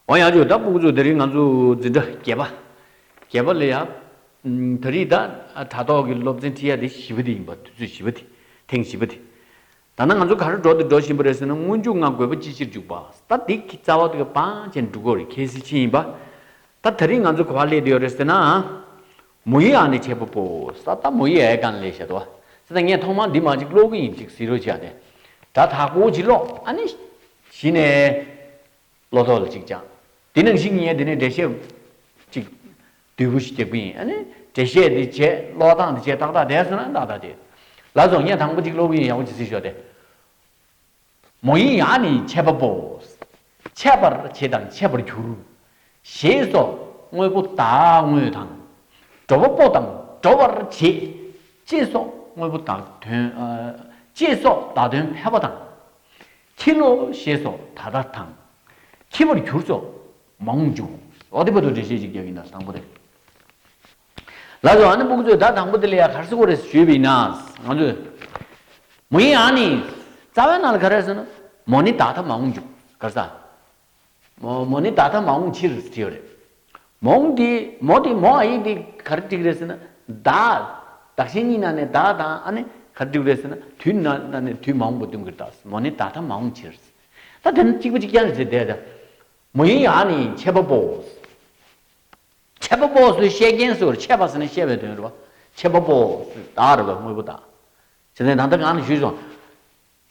འོ་ཡང་ཆོས་བདག་པོ་ཁྱོད་ད་རིས་ང་ཚོ་འཛིན་གྲྭ་བརྒྱད་པ་བརྒྱད་པ་ལ་ཡང་ད་རིས་དང་དྲ་ཐོག་གི་སློབ་ཚན་ཁྲིད་ཡ་དེ་བཞི་བ་དེ་ཡིན་པ་དུས་ཚོད་བཞི་བ་དེ་ཐེངས་བཞི་བ་དེ་ད་ནང་ང་ཚོ་ག་རེ་འགྲོ་འདི་འགྲོ་བཞིན་པ་རེད་ཟེར་ན་སྔོན་འཇུག་ང་དགོས་པ་ཅི་ཕྱིར་འཇུག་པ་ད་འདི་གི་རྩ་བ་དེ་ག་པང་ཅན་འབྲུག་སྒོ་རི་ཁའི་སེ་ཆེན་ཡིན་པ་ད་ད་རིས་ང་ཚོ་ག་བ་སླེད་དུ་ཡོད་རེད་ཟེར་ན་མོ་ཡི་ཨ་ནི་བྱེད་པོ་པོ་ཟ་ད་མོ་ཡི་ཨའི་ག་ནི་ལས་བྱེད་དོ་ཟེར་ད་ངས་ཐོག་མར་འདི་མ་ཅིག་ཀློག་གི་ཡིན་ཅིག་ཟིག་རོ་ཅིག་ཨ་ནི་དྲ་ཐག་པོ་ཅིག་ཀློག་ཨ་ནི། བཞི་ནས། ལོ་ཏོག་ལ་གཅིག་བཅག། དེ་ནང་བཞིན་ཉལ་དེ་ནས་འགྲེལ་བཤད། གཅིག། དུས་བུ་ཞིག་སྐྱེ་དགུ་ཡིན། འགྲེལ་བཤད་དེ་བྱས། ལོ་ཐང་དེ་བྱས་ཏག་ཏག་བསྡད་སོང་ན་ཏག་ཏག་བསྡད། ལ་རྫོགས་ཉལ་དང་པོ་གཅིག་ལོ་བུ་ཡིན་ཡག་པོ་གྱིས་བཟི་ཞོག་སྟེ། མོ་ཡིན་ཡག་ནི་ཆད་པ་པོ། ཆད་པར་བྱེད་དང་ཆད་པར་གྱུར། ཞེས་སོགས་དངོས་པོ་དག་དངོས་དང། འགྲོ་བ་པོ་དང་འགྲོ་བར་བྱེད། ཅེས་སོགས་དངོས་པོ་དག་དོན། ཅེས་སོགས་དག་དོན་ཕལ་པ་དང། འཁྱིལ་ལོ་ཞེས་སོགས་ད་ལྟ་དང། འཁྱིལ་བར་གྱུར་ཅོག་མ་འོངས་འབྱུང། ལོག་ལྟའི་བར་དུ་འགྲེལ་བཤད་ཅིག་རྒྱག་གིན་གདའ་དང་པོ་རེད། ལ་སོགས་ཨ་ནི་སྨུག་མཛོད་གདའ་དང་པོ་དེ་ལ་ཡང་གར་སི་ཀོ་རེ་ཟེར་ཞུས་པ་ཡིན་ན། ང་ཚོས། མོ་ཡིན་ཨ་ནི། རྩ་བའི་ནང་ལ་ག་རེ་ཟེར་ན། མོ་ནི་ད་ལྟ་མ་འོངས་འབྱུང། གར་ས། མོ་ནི་ད་ལྟ་མ་འོངས་ཕྱིར་ཟེར་གྱི་ཡོད་རེད། མོ་འོངས་དེ། མོ་དེ་མོ་ཨ་ཡིག་དེ་ག་རེ་བྲིས་གི་རེད་ཟེར་ན། བདག། བདག་གཞན་གཉིས་ན་ནས་བདག་དང་ཨ་ནི་ག་རེ་བྲིས་གི་རེད་ཟེར་ན། དུས་ན་ན་ནས་དུས་མ་འོངས་པ་བསྟུན་གི་རེད་ད། མོ་ནི་ད་ལྟ་མ་འོངས་ཕྱིར། ད་དེ་ནི་གཅིག་པུ་གཅིག་རྐྱང་རེད་ཟེར་དེ། མོ་ཡིན་ཡང་ཨ་ནི་ཆད་པ་པོ། ཆད་པ་པོ་སུས་བཤད་ཀྱིན་སུ་རེད་ཆད་པ་ཟེར་ན་བཤད་པའི་དོན་རེད་བ། ཆད་པ་པོ་སུས་བདག་རེད་བ་དངོས་པོ་བདག། ཟེར་ནས་ད་ལྟ་གང་ནས་ཞུས་སོང།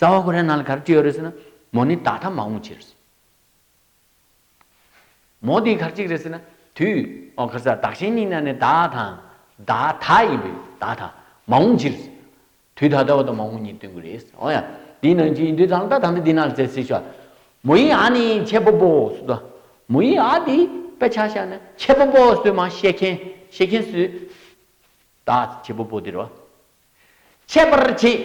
རྩ་བ་ཁོ་རའི་ནང་ལ་གར་ཅི་ཡོད་རེད་ཟེར་ན། མོ་ནི་ད་ལྟ་མ་འོངས་ཕྱིར་ཟེར། མོ་དེའི་གར་གཅིག་རེད་ཟེར་ན། དུས་ཨོ་གར་ས་བདག་གཞན་གཉིས་ན་ནི་བདག་དང། བདག་ད་ཡིན་པས་བདག་ད་མ་འོངས་ཕྱིར་ཟེར། དུས་ད་ལྟ་བ་དང་མ་འོངས་གཉིས་སྟོན་གི་རེད་ཟེར། འོ་ཡ། དེའི་ནང་ཅི་ཡིན་དུས་ད་ལྟ་ད་ལྟ་འདི་ན་ལ་བཙལ་སེ་ཞོ། མོ་ཡི་ཨ་ནི་ཁྱེད་པོ་པོ་སུ་དོ། མོ་ཡི་ཨ་དེ་པད་ཆ་ཤ་ནི་ཁྱེད་པོ་པོ་སུས་མ་ཤེས་མཁན་ཤེས་མཁན་སུས། བདག་ཁྱེད་པོ་པོ་དེ་རོ། འཆད་པར་བྱེད།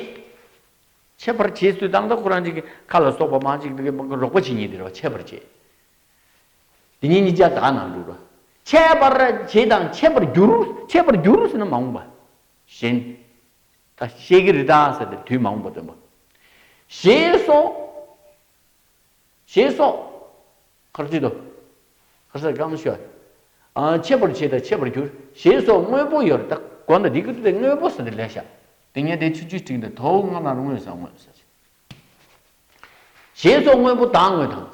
འཆད་པར་བྱེད་ཚུལ་དང་དང་ཁོ་རང་ཅིག་གི་ཁ་ལ་སོགས་པ་མང་ཅིག་གིས་རོགས་པ་བྱེད་ཉིད་དེར་བ་འཆད་པར་བྱེད། དེ་ཉིད་ཉིས་བརྒྱ་དག་ན་འགྲུབ་བོ། འཆད་པར་བྱེད་དང་འཆད་པར་འགྱུར། འཆད་པར་འགྱུར་ཟེར་ན་མ་འོངས་པ། གཞན། ད་ཤེས་ཀྱི་རི་དྭགས་ཟེར་དེར་དུས་མ་འོངས་པ་སྟོན་པ། ཞེས་སོགས། ཞེས་སོགས། མཁར་བརྫིས་ཏོ། མཁར་སར་བསྐམས་ཤོག། འཆད་པར་བྱེད་དང་འཆད་པར་གྱུར། ཞེས་སོགས་དངོས་པོ་ཡོད་རྟགས་གོ་ན་འདི་ཀུན་ཏུ་དངོས་པོ་ཟེར་ཏེ་ལེགས་བྱ། དེ་ཉིད་དེའི་ཚུལ་བཅུའི་ཁྲིགས་འདི་དོ་སྔ་མར་དངོས་སམ་དངོས་ཟེར་བྱ། ཞེས་སོགས་དངོས་པོ་དག་དངོས་དང།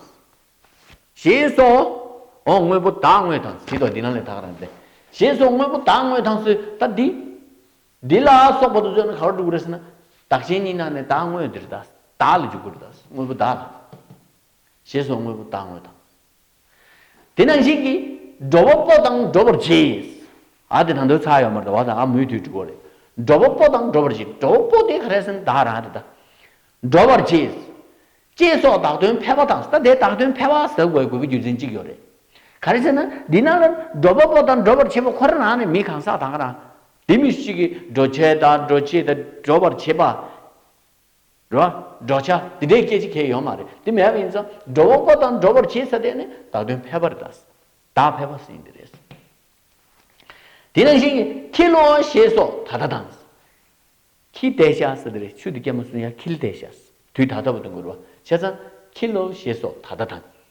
ཞེས་སོགས། འོ་དངོས་པོ་དག་དངོས་དང་ཟིན་ཏོ་འདི་ན་ལས་དག་རང་མཛད། ཞེས་སོགས་དངོས་པོ་དག་དངོས་དང་ཟིན་ད་འདི། འདི་ལ་སོགས་པ་དུ་བཟོད་ན་ག་བར་འགྲུབ་དགོས་རེ་ཟེར་ན། བདག་གཞན་གཉིས་ན་ནས་དག་དངོས་འདིར་དག་ལ་འཇུག་དགོས་རེ་ད། དངོས་པོ་དག་ལ། ཞེས་སོགས་དངོས་པོ་བདག་དངོས་དང། དེ་ནང་བཞིན་གྱི། འགྲོ་བ་པོ་དང་འགྲོ་བར་བྱེད། ཨ་དེ་དང་དོའི་ཚ་ཡོད་མར་ད་བ་དང་ཨ་མུའི་དུས་འགྲོ་བ་རེད། འགྲོ་བ་པོ་དང་འགྲོ་བར་བྱེད། འགྲོ་བ་པོ་དེ་ག་རེ་སེམས་དག་ར་དེ་དག། འགྲོ་བར་བྱེད། ཅེས་སོགས་དག་དོན་ཕལ་བ་དང་ད་དེ་དག་དོན་ཕལ་བ་ཟེར་དགོས་དགོས་པའི་རྒྱུ་མཚན་གཅིག་ཡོད་རེད། ག་རེ་ཟེར་ན་འདི་ནང་ལ་འགྲོ་བ་པོ་དང་འགྲོ་བར་བྱེད་པ་ཁོ་རང་རང་ནས་མི་གང་ཟག་དང་ག་རང། དེ་མི་ཞིག་གིས་འགྲོ་བྱེད་དང་འགྲོ་བྱེད་དང་འགྲོ་བར་བྱེད་པ། འགྲོ་བ། འགྲོ་བྱ། འདི་འདྲའི་སྐད་ཅིག་ཁྱེད་ཡོད་མ་རེད། འདི་མེད་པ་ཡིན་ཙང། འགྲོ་བ་པོ་དང་འགྲོ་བར་བྱེད་ས་དེ་ནི་བདག་དོན་ཕལ་པར་དག། བདག་ཕལ་པ་ཟིན་འདི་རེད། དེ་ནང་བཞིན་གྱི། ཁྱི་ལོ། ཞེས་སོགས་ད་ལྟ་དང། ཁྱི་དེ་ཤ་ཟ་འདི་རེད་ཆུ་འདི་སྐྱ་མ་སུན་ཡ་ཁྱི་ལྡེ་ཤ་ཟ། དུས་ད་ལྟ་བ་དང་འགུར་བ། བྱས་ཙང། ཁྱི་ལོ། ཞེས་སོགས་ད་ལྟ་དང།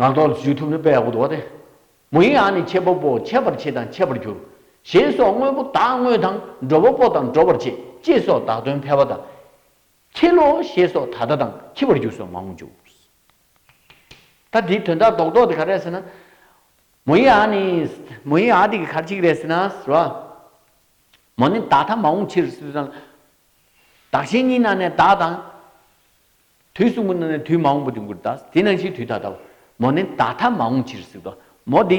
ངག་ཐོག་ལ་བརྗོད་ཐུབ་ན་དཔེ་ཡག་པོ་འདུག་བ་དེ། མོ་ཡི་ཨ་ནི་འཆད་པ་པོ་འཆད་པར་བྱེད་དང་འཆད་པར་འགྱུར། ཞེས་སོགས་དངོས་པོ་དག་དངོས་དང་འགྲོ་བ་པོ་དང་འགྲོ་བར་བྱེད་ཅེས་སོགས་དག་དོན་ཕལ་བ་དང། ཁྱི་ལོ་ཞེས་སོགས་ད་ལྟ་དང་འཁྱི་བར་འགྱུར་སོགས་མང་བོ་འཇུག། ད་དེའི་དོན་དག་ལྡོག་ལྡོག་དེ་ག་རེད་ཟེར་ན། མོ་ཡི་ཨ་ནི། མོ་ཡི་ཨ་དེ་གི་གར་ཅིག་རེད་ཟེར་ན་ཟེར་བ། མོ་ནི་བདག་ཐ་མ་འོང་ཕྱིར། བདག་གཞན་གཉིས་ན་ནས་བདག་དང། དུས་གསུམ་པོ་ནི་དུས་མ་འོངས་པོ་དུས་མགུར་དག། དེ་ནང་བཞིན་དུས་ད་ལྟ་བ། མོ་ནི་བདག་ཐ་མ་འོངས་ཕྱིར་སྲིད་དོ། མོ་དེ།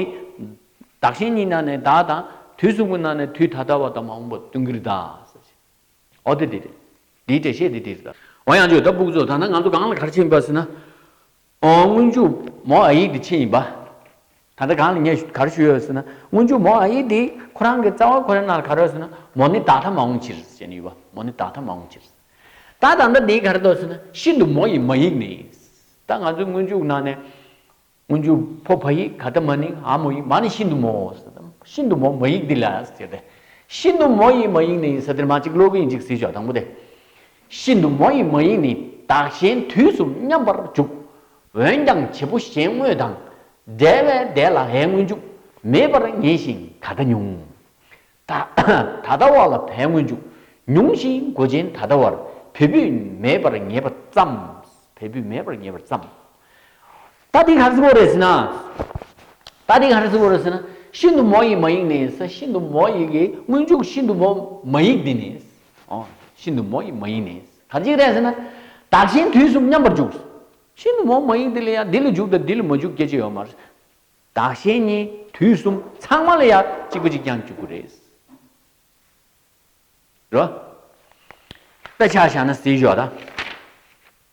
བདག་གཞན་གཉིས་ན་ནི་བདག་དང། དུས་གསུམ་པོ་ན་ནི་དུས་ད་ལྟ་བ་དང་མ་འོངས་པ་དུས་མགུར་དག། འོ་དེ་དེ་དེ། དེའི་འགྲེལ་བཤད་དེ་དེ་རེད། འོ་ཡང་བརྗོད་ད་སྦུག་ཚོ་ད་ནི་ང་ཚོ་གང་ལ་གར་ཕྱིན་པ་ཟེར་ན། སྔོན་འཇུག་མོ་ཨ་ཡིག་གི་ཆེད་ཡིན་པ། ད་ལྟ་གང་ལ་ངས་གར་ཞུས་ཡོད་ཟེར་ན་སྔོན་འཇུག་མོ་ཨ་ཡིག་དེ་ཁོ་རང་གི་རྩ་བ་ཁོ་རའི་ནང་ལ་གར་ཡོད་ཟེར་ན་མོ་ནི་དག་ཐ་མ་འོང་ཕྱིར་ཟེར་ནི་ཡོད་པ་མོ་ནི་དག་ཐ་མ་འོང་ཕྱིར། ད་ད་ལྟ་དེའི་གར་འདོད་ཟེར་ན་ཤིན་ཏུ་མོ་ཡི་མ་ཡིག་ནི་ཡིན། ད་ང་ཚོའི་སྔོན་འཇུག་ནང་ནས་སྔོན་འཇུག་ཕོ་ཕ་ཡིག་ག་ད་མ་ནི་ཨ་མོ་ཡིག་མ་ནི་ཤིན་ཏུ་མོ་ཟེར་ན་ཤིན་ཏུ་མོ་མ་ཡིག་དེ་ལ་ཟེར་ཏེ་ཤིན་ཏུ་མོ་ཡི་མ་ཡིག་ནི་ཡིན་ཟེར་དེར་མ་གཅིག་ཀློག་གི་ཡིན་གཅིག་ཟིན་ཆོག་དང་པོ་དེ་ཤིན་ཏུ་མོ་ཡི་མ་ཡིག་ནི་བདག་གཞན་དུས་གསུམ་མཉམ་པར་འཇུག། འོན་ཀྱང་བྱེད་པོ་གཞན་དངོས་དང། བྲལ་བས་འདས་ལ་ཧའི་དངོས་འཇུག། མེད་པར་ངེས་ཤིང་ད་ལྟ་ཉུང། ད་ལྟ་བ་ལ་བའི་དངོས་འཇུག། ཉུང་ཞིང་མགོ་ཅན་ད་ལྟ་བར་བུས་བུས་མེད་པར་ངེས་པ་ཙམ། བས་བུས་མེད་པར་ངེས་པར་ཙམ། ད་ཐིག་ཧར་སི་བོ་རེ་སི་ན། ད་ཐིག་ཧར་སི་བོ་རེ་སི་ན། ཤིན་ཏུ་མོ་ཡི་མ་ཡིག་ནི་ས་ཤིན་ཏུ་མོ་ཡི་གི་སྔོན་འཇུག་ཤིན་ཏུ་མོ་མ་ཡིག་འདི་ནི། ཨོ། ཤིན་ཏུ་མོ་ཡི་མ་ཡིག་ནི། ག་ཅིག་རེ་སི་ན། དག་ཞིང་དུས་གསུམ་མཉམ་པར་འཇུག། ཤིན་ཏུ་མོ་མ་ཡིག་འདི་ལ་ཡང་འདི་ལ་འཇུག་དང་འདི་ལ་མ་འཇུག་སྐྱེ་མཆེད་ཡོད་མ། དག་ཞིང་གཉིས་དུས་གསུམ་ཚང་མ་ལ་ཡང་གཅིག་པ་ཅིག་ཀྱང་འཇུག་གོ་རེ་སི། རོ། དཔེ་ཆ་བཞག་ན་སི་ཞོག་ད།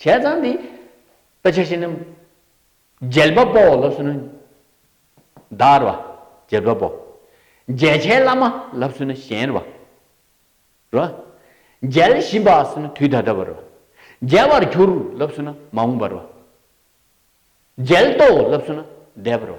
བྱས་ཙང་དེ། དཔེ་ཆ་ཤེས་ན། འཇལ་བ་པོ་ལབ་སོན་ན། དར་བ། འཇལ་བ་པོ། འཇལ་བྱའི་བླ་མ་ལབ་སོན་ན་གཞན་བ། རོ། འཇལ་བཞིན་པ་སོན་ན་དུས་ད་ལྟ་བ་རོ། འཇལ་བར་གྱུར་ལབ་སོན་ན་མ་འོངས་པ་རོ། འཇལ་ཏོ་ལབ་སོན་ན་འདས་པ་རོ།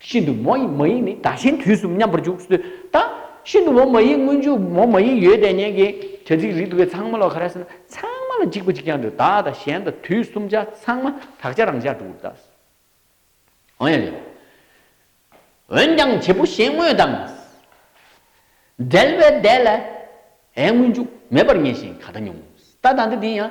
ཤིན་ཏུ་མོ་ཡི་མ་ཡིག་ནི་དག་ཆེན་དུས་གསུམ་མཉམ་པར་འཇུག་སུ་དག། ཤིན་ཏུ་མོ་མ་ཡིག་སྔོན་འཇུག་མོ་མ་ཡིག་ཡོད་དེ་ཉན་གྱི། བྱ་ཚིག་རིགས་དུ་བའི་ཚངས་མ་ལ་ག་རེ་ཟེར་ན་ཚངས་མ་ལ་འཇིགས་པ་གཅིག་ཀྱང་འདུག་དག་དང་གཞན་དང་དུས་གསུམ་ཆ་ཚངས་མ་དག་ཆ་རང་ཤར་དྲུག་གདགས། འོན་ཡང་ལེའོ། འོན་ཀྱང་བྱེད་པོ་གཞན་དངོས་དང། འབྲེལ་པའི་ཟླས་ལ། ཨའི་སྔོན་འཇུག་མེད་པར་ངེས་ཤིང་ག་ད་ཉུང། ད་དང་འདི་དེ་ཡང།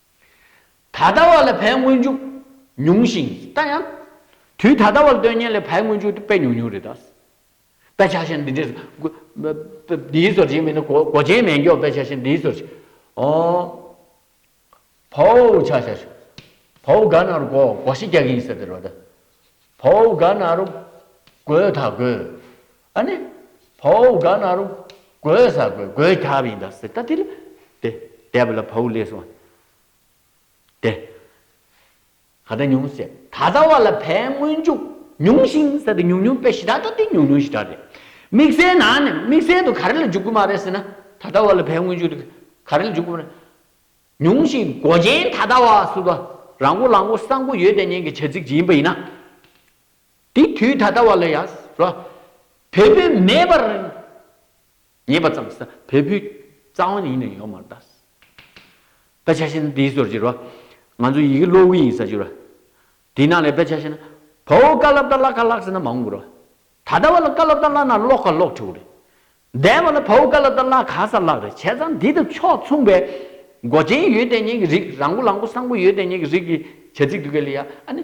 ད་ལྟ་བར་ལས་བལ་སྔོན་འཇུག་ཉུང་ཞིང་ད་ཡང། དུས་ད་ལྟ་བར་སྟོན་ཉན་ལས་བལ་སྔོན་འཇུག་དཔེ་ཉུང་ཉུང་རེད་ད། དཔེ་ཆ་ཤེས་ན་འདི་འདྲས་འདིའི་ཟོར་བྱེད་མི་ནི་གོ་ཆེན་མེད་མགྱོགས་དཔེ་ཆ་ཤེས་ན་འདིའི་ཟོར་བྱེད། བོའུ་ཆ་ཤ་ཤོ། བོའུ་དགའ་ན་རུ་གོ་གོ་ཤི་རྒྱག་གི་ཡིན་ཟེར་དེ་རོ་ད། བོའུ་དགའ་ན་རུ་གོས་ད་གོས། ཨ་ནི། བོའུ་ག་ན་རུ། གོས་ཟ་གོས་གོས་ཁྱབ་ཡིན་ད་ཟེར་ད་དེ་ལ། དེ་དེ་བ་ལ་བོའུ་ལས་སོང་བ། དེ། ག་ད་ཉུང་ཟེར་ད་ད་བ་ལ་བས་སྔོན་འཇུག་ཉུང་ཞིང་ཟེར་ད་ཉུང་ཉུང་བས་ཞི་ད་ད་དེ་ཉུང་ཉུང་ཞི་ད་རེད། དམིགས་བསལ་ན་ནི་དམིགས་བསལ་དུ་ག་རེ་ལ་འཇུག་གི་མ་རེད་ཟེར་ན་ད་ད་བ་ལ་བས་སྔོན་འཇུག་དེ་ག་རེ་ལ་འཇུག་གི་མ་རེད། ཉུང་ཞིང་གོ་ཅན་ད་ད་བ་ཟུར་བ་ར་མགོ་ལག་མགོ་ས་མགོ་ཡོད་དེ་གཉེན་གྱི་བྱ་ཚིག་ཅིག་ཡིན་པ་ཡིན་ན། དེའི་དུས་ད་ལྟ་བ་ལ་ཡང་རོ། བལ་པོའི་མེད་པར་ངེས་པ་ཙམ་ཟ། བལ་པོའི་རྩ་བ་ནི་ཡེ་ནས་ཡོད་མ་རྟགས་སོ། དཔེ་ཆ་ཤེས་ན་དེའི་སོར་གྱིས་རོ། ང་ཚོ་ཡི་གེ་ཀློག་གི་ཡིན་ཟ་གྱི་རོ། དེའི་ནང་ལས་དཔེ་ཆ་ཤེས་ན། བ་འོ་ཀ་ལབ་ད་ཀླག་ཁ་ཀླག་ཟེར་ན་མ་འོང་གི་རོ། ད་ལྟ་བ་ལ་ཀ་ལབ་ད་ཀླག་ན་ཀློག་ཁ་ཀློག་ཁྲིའོ་རེད། འདས་པ་ལ་བ་འོ་ཀ་ལབ་ད་ཀླག་ཁ་ཟ་ཀླག་རེད་བྱས་ཙང་དེ་དང་ཕྱོགས་མཚུངས་པའི། མགོ་ཅན་ཡོད་དེ་ཉན་གྱི་རིགས་རང་མགོ་ལག་མགོ་སྲང་མགོ་ཡོད་དེ་ཉན་གྱི་རིགས་ཀྱི་བྱ་ཚིག་དུ་གལ་ཡ་ཨ་ནི།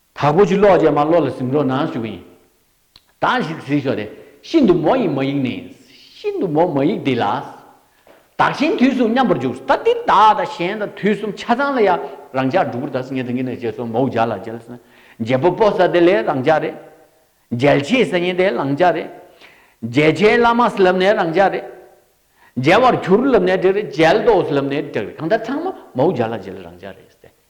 དྭགས་པོ་ཆུ་གློག་ཅན་མ་གློག་ལ་གཟིམ་རོགས་གནང་ཞུ་གི་ཡིན། དྭགས་ཞིག་གཟིགས་ཤོག་དེ་ཤིན་ཏུ་མོ་ཡི་མ་ཡིག་ནི་ཤིན་ཏུ་མོ་མ་ཡིག་དེ་ལ། དྭགས་ཆེན་དུས་གསུམ་མཉམ་པར་འཇུག་ད་ཏི་དྭགས་དང་གཞན་དང་དུས་གསུམ་ཆ་ཚང་ལ་ཡ་རང་ཅག་སྒྲུ་གུར་དྭགས་སུ་ངེད་དང་གཉིས་ནས་བྱེས་སོ་མོའུ་རྒྱ་ལ་རྒྱལ་ས་རྒྱལ་པོ་པོ་ས་དེ་ལས་རང་ཅག་རེད། རྒྱལ་ཆེ་ས་ཉེན་དེ་རང་ཅག་རེད། རྒྱལ་ཆེ་བླ་མ་སུ་ལབ་ནས་རང་ཅག་རེད། རྒྱལ་བར་གྱུར་ལབ་ནས་དྲེགས་རེད་རྒྱལ་དོགས་སུ་ལབ་ནས་དྲེགས་རེད་གང་ལྟར་ཚང་མ་མོའུ་རྒྱ་ལ་རྒྱལ་རང་ཅག་རེད།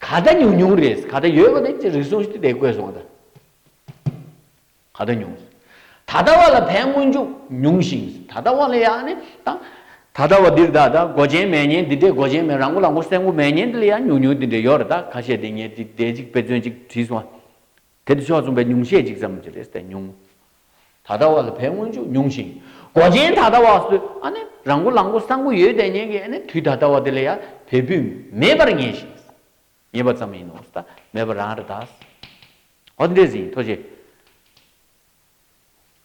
ག་ད་ཉུང་ཉུང་རེད་ག་ད་ཡོད་པ་རེད་ཅེས་རིགས་གསུངས་ཤིག་དེ་བཀོད་སོང་ད་ག་ད་ཉུང་ད་ད་བ་ལ་ཕན་སྔོན་འཇུག་ཉུང་ཞིང་ད་ད་བ་ལ་ཡ་ནི་ད་ད་ད་བ་འདིར་ད་ད་མགོ་ཅན་མས་ཉན་འདི་འདྲས་མགོ་ཅན་མས་རང་མགོ་རང་མགོ་སེམས་མགོ་མས་ཉན་འདི་ལ་ཡ་ཉུང་ཉུང་འདི་འདྲས་ཡོད་རེད་ད་ག་བཤད་འདི་ཉན་འདི་འདྲས་ཅིག་དཔེ་མཚོན་ཅིག་བྲིས་སོང་ང། དེར་ཕྱོགས་མཚུངས་པའི་ཉུང་ཤས་ཅིག་ཙམ་གྱི་རེས་དེ་ཉུང་ད་ལྟ་བ་ལ་ཕའི་སྔོན་འཇུག་ཉུང་ཞིང་གོ་ཅན་ད་ལྟ་བ་སུ་རང་གུ་ལང་གུ་སྲང་གུ་ཡོད་དེ་ཉན་གྱི་དུས་ད་ལྟ་བ་དེ་ལ་ཡང་བལ་བུས་མེད་པར་ངེས་ཤིང། ངེས་པ་ཙམ་ཡིན་ནོ་ད་མེད་པར་རང་རེ་དག། འོ་འདྲེས་ཟིན་ཐོ་ཆེ།